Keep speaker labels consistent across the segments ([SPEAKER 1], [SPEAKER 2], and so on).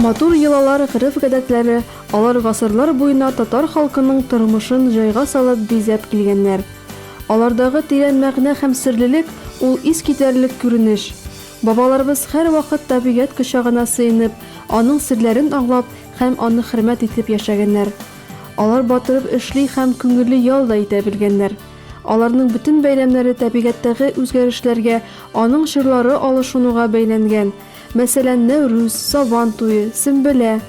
[SPEAKER 1] Матур йолалар, гырыф-гадәтләре, алар гасырлар буена татар халкының тормышын җайга салып бизәп килгәннәр. Алардагы тирән мәгънә һәм серлелек ул искитәрлек күренеш. Бабаларыбыз һәрвакыт табигать кочагына сыенып, аның серләрен аңлап, Һәм аны хөрмәт итеп яшәгәннәр. Алар батырып эшли һәм күңелле ял да итә белгәннәр. Аларның бөтен бәйрәмнәре табигатьтәге үзгәрешләргә, аның чорлары алышынуга бәйләнгән. Мәсәлән, Нәүрүз, Сабан туе, Сөмбелә.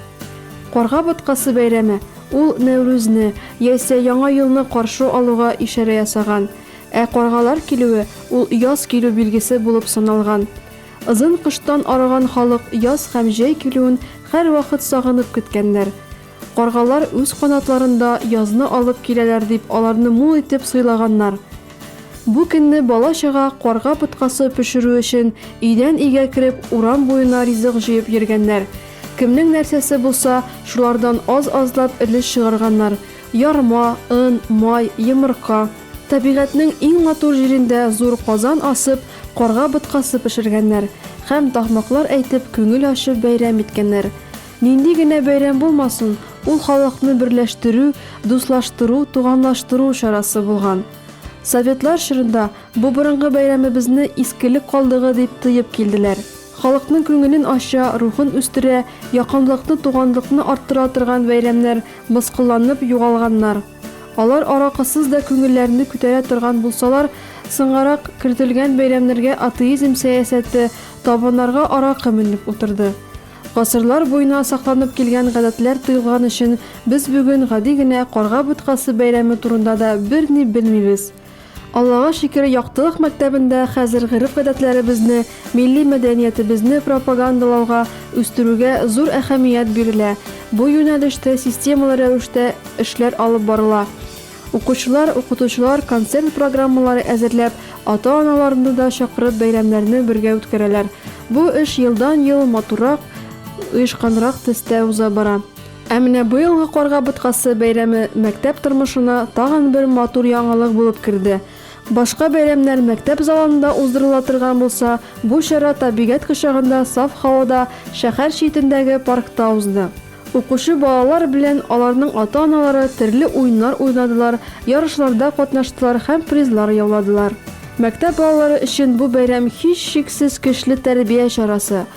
[SPEAKER 1] Карга боткасы бәйрәме, ул Нәүрүзне, яисә Яңа елны каршы алуга ишарә ясаган. Ә каргалар килүе, ул яз килү билгесе булып саналган. Озын кыштан арыган халык яз һәм җәй килүен һәрвакыт сагынып көткәннәр. Каргалар үз канатларында язны алып киләләр дип аларны мул итеп сыйлаганнар. Бу көнне бала-чага карга боткасы пешерү өчен өйдән-өйгә кереп урам буена ризык җыеп йөргәннәр. Кемнең нәрсәсе булса, шулардан аз-азлап өлеш чыгарганнар, ярма, он, май, йомырка. Табигатьнең иң матур җирендә зур казан асып, карга боткасы пешергәннәр һәм тахмаклар әйтеп күңел ачып бәйрәм иткәннәр. Нинди генә бәйрәм булмасын, ул халыкны берләштерү, дуслаштыру, туганлаштыру чарасы булган. Советлар чорында бу борынгы бәйрәмебезне искелек калдыгы дип тоеп килделәр. Халыкның күңелен ача, рухын үстерә, якынлыкны, туганлыкны арттыра торган бәйрәмнәр мыскылланып югалганнар. Алар аракысыз да күңелләрне күтәрә торган булсалар, соңгарак кертелгән бәйрәмнәргә атеизм сәясәте, табыннарга аракы менеп утырды. Гасырлар буена сакланып килгән гадәтләр тыелган өчен без бүген гади генә Карга боткасы бәйрәме турында да берни белмибез. Аллага шөкер, Яктылык мәктәбендә хәзер гореф-гадәтләребезне, милли мәдәниятебезне пропагандалауга, үстерүгә зур әһәмият бирелә, бу юнәлештә системалы рәвештә эшләр алып барыла. Укучылар, укытучылар концерт программалары әзерләп, ата-аналарны да чакырып бәйрәмнәрне бергә үткәрәләр. Бу эш елдан-ел матуррак, оешканрак төстә уза бара. Ә менә быелгы Карга боткасы бәйрәме мәктәп тормышына тагын бер матур яңалык булып керде. Башка бәйрәмнәр мәктәп залында уздырыла торган булса, бу чара табигать кочагында саф һавада, шәһәр читендәге паркта узды. Укучы балалар белән аларның ата-аналары төрле уеннар уйнадылар, ярышларда катнаштылар һәм призлар яуладылар. Мәктәп балалары өчен бу бәйрәм һичшиксез көчле тәрбия чарасы.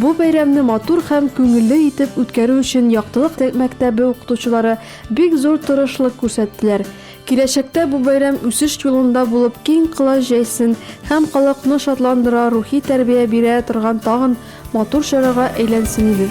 [SPEAKER 1] Бу бәйрәмне матур һәм күңелле итеп үткәрү өчен Яктылык мәктәбе укытучылары бик зур тырышлык күрсәттеләр. Киләчәктә бу бәйрәм үсеш юлында булып киң колач җәйсен һәм халыкны шатландыра, рухи тәрбия бирә торган тагын матур чарага әйләнсен иде.